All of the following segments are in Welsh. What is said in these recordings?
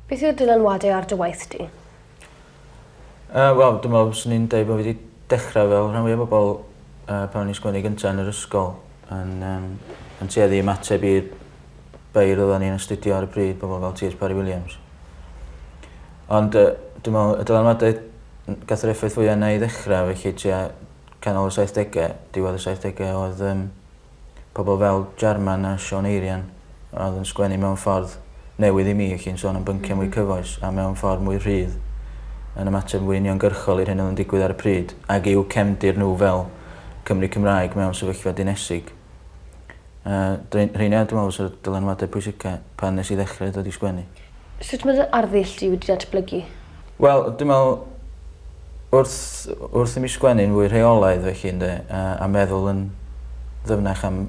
Beth yw'r dylanwade ar dy waith di? Yy wel dwi me'wl swn i'n deud bo' fi 'di dechra fel rhan fwya bobol yy pan o'n i'n sgwen i'r gynta yn yr ysgol yn yym yn tueddu i ymateb i'r beirdd oddan ni'n astudio ar y pryd pobol fel Tee Haitch Parry Williams. Ond yy dwi me'wl y dylanwade n- gath yr effaith fwy arna i ddechra felly tua canol y saithdege diwedd y saithdege odd yym Pobl fel Jarman a Siân Eirian a oedd yn sgwennu mewn ffordd newydd i mi, felly'n sôn am bynciau mwy cyfoes a mewn ffordd mwy rhydd, yn ymateb yn fwy uniongyrchol i'r hyn oedd yn digwydd ar y pryd, ag i'w cefndir nhw fel Cymry Cymraeg mewn sefyllfa dinesig. Yy, rheina dwi'n meddwl fysa'r dylanwadau pwysica pan nes i ddechrau dod i sgwennu. Sut mae dy arddull di wedi datblygu? Wel dwi me'wl wrth wrth i mi sgwennu'n fwy rheolaidd felly ynde a a meddwl yn ddyfnach am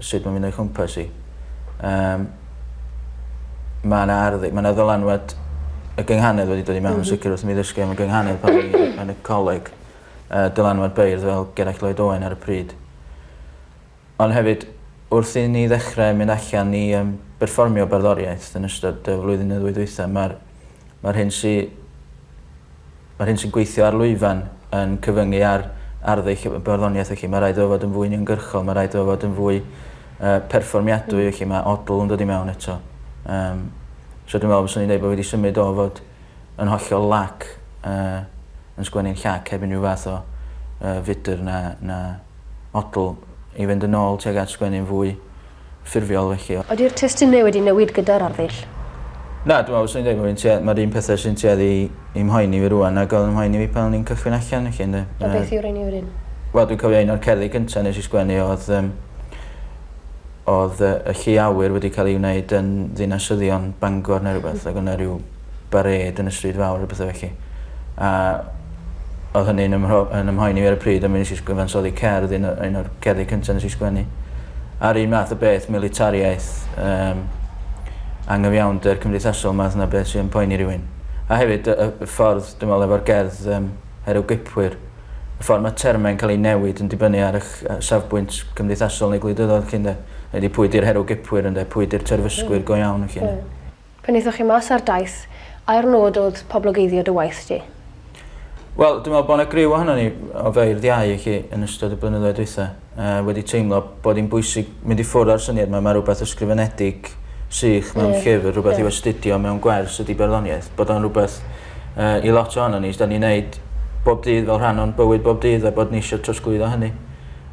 sut mae'n mynd o'i chwmpas i yym ma' 'na arddu- ma' 'na ddylanwad y gynghanedd wedi dod i mewn yn sicir wrth i mi ddysgu am y gynghanedd pan o'n i yn y coleg yy dylanwad beirdd fel Gerallt Lloyd Owen ar y pryd. Ond hefyd, wrth i ni ddechrau mynd allan i yym berfformio barddoriaeth yn ystod y flwyddyn neu ddwy ddwytha, mae'r mae'r hyn sy mae'r hyn sy'n gweithio ar lwyfan yn cyfyngu ar arddull y barddoniaeth felly mae rhaid iddo fod yn fwy uniongyrchol, mae rhaid iddo fod yn fwy yy perfformiadwy felly mae odl yn dod i mewn eto. Yym so dwi'n meddwl fyswn i'n dweud bod fi wedi symud o fod yn hollol lac yy yn sgwennu'n llac heb unrhyw fath o yy fudr na na model i fynd yn ôl tuag at sgwennu'n fwy ffurfiol felly. Ydi'r testun neu wedi newid gyda'r arddull? Na, dwi me'wl fyswn i'n deud bo' fi'n tua- ma'r un pethe sy'n tueddu i i mhoeni fi rŵan nag odd yn mhoeni fi pan o'n i'n cychwyn allan felly ynde? A beth yw'r un un? Wel dwi'n cofio un o'r cerddi cynta nes i sgwennu odd yym Oedd y y llu awyr wedi ca'l ei wneud yn ddinasyddion Bangor ne' rwbeth ag o' 'na ryw barêd yn y stryd fawr a pethe felly. A odd hynny'n ym mhro- yn 'y mhoeni fi ar y pryd a mi nes i sgw- gyfansoddi cerdd un o un o'r cerddi cynta nes i sgwennu. A'r un math o beth militariaeth yym angyfiawnder cymdeithasol math 'na beth sy yn poeni rywun. A hefyd y y y ffordd dwi me'wl efo'r gerdd yym Herwgipwyr y ffordd mae termau'n cael eu newid yn dibynnu ar eich safbwynt cymdeithasol neu gwleidyddol chi ynde? Neu di pwy di'r herw gipwyr ynde? Pwy di'r terfysgwyr go iawn felly ynde? Pan aethoch chi mas ar daith, ai'r nod oedd poblogeiddio dy waith di? Wel, dwi'n meddwl bod 'na griw ohonon ni o feirdd iau i chi yn ystod y blynyddoedd dwytha. yy wedi teimlo bod 'i'n bwysig mynd i ffwr' â'r syniad 'ma ma' rwbeth ysgrifenedig sych mewn llyfr rwbeth i'w astudio mewn gwers ydi barddoniaeth bod o'n rwbeth yy i lot ohonon ni 's 'dan ni neud bob dydd fel rhan o'n bywyd bob dydd a bod ni isio trosglwyddo hynny.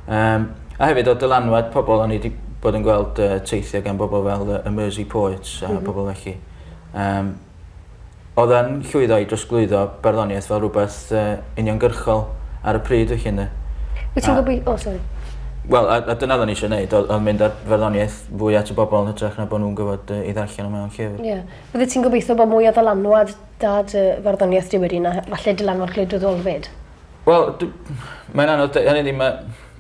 Yym a hefyd o dylanwad pobol o'n ni 'di bod yn gweld yy teithio gan bobol fel yy y Mersey Poets a pobol felly. Yym. oedd yn llwyddo i drosglwyddo barddoniaeth fel rhywbeth uh, uniongyrchol ar y pryd, felly, ynddo. Wyt ti'n gwybod... O, oh, sori. Wel, a, a dyna ddyn ni eisiau gwneud, oedd on mynd ar farddoniaeth fwy at y bobl yn hytrach na bod nhw'n gyfod uh, i ddarllen o mewn llyfr. Ie. Yeah. Fydde ti'n gobeithio bod mwy o ddylanwad dad uh, farddoniaeth diwyd i na falle dylanwad gwleidyddol fyd? Wel, mae'n anodd, hynny ddim,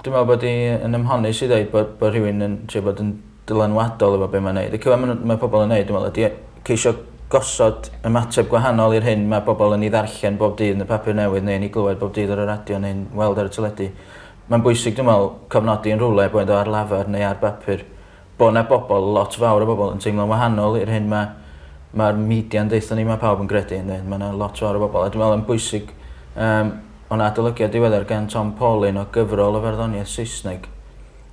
dwi'n meddwl bod i'n ymhonus i ddweud bod, bod rhywun yn trio bod yn dylanwadol efo be' mae'n neud. Y cyfan ma' n'w ma' pobol yn neud dwi me'wl ydi ceisio gosod ymateb gwahanol i'r hyn ma' bobol yn 'i ddarllen bob dydd yn y papur newydd neu yn 'i glywed bob dydd ar y radio neu'n weld ar y teledu. Mae'n bwysig dwi me'wl cofnodi yn rhywle boed o ar lafar neu ar bapur bo' 'na bobol lot fawr o bobol yn teimlo'n wahanol i'r hyn ma' ma'r media'n deutho ni ma' pawb yn gredu ynde ma' 'na lot fawr o bobol a dwi me'wl yn bwysig yym o' 'na adolygiad diweddar gan Tom Paulin o gyfrol o farddoniaeth Saesneg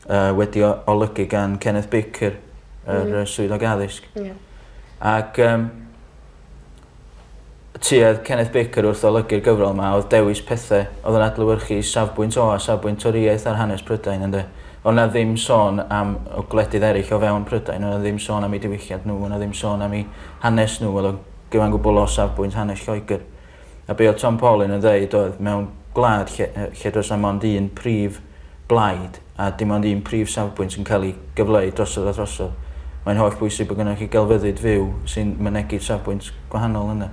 Yy wedi o- olygu gan Kenneth Baker yr yy swyddog addysg. Ie. Ac yym tuedd Kenneth Baker wrth olygu'r gyfrol 'ma odd dewis pethe odd yn adlewyrchu safbwynt o a safbwynt Torïaeth ar hanes Prydain ynde? O' 'na ddim sôn am y gwledydd eryll o fewn Prydain o' 'na ddim sôn am eu diwylliant n'w o' 'na ddim sôn am 'u hanes n'w o'dd o'n gyfan gwbwl o safbwynt hanes Lloegr. A be oedd Tom Paulin yn ddeud oedd mewn gwlad lle, lle does na mond un prif blaid a dim ond un prif safbwynt yn cael ei gyfleu drosodd a throsodd, mae'n holl bwysig bod gennych chi gelfyddyd fyw sy'n mynegi safbwynt gwahanol yna.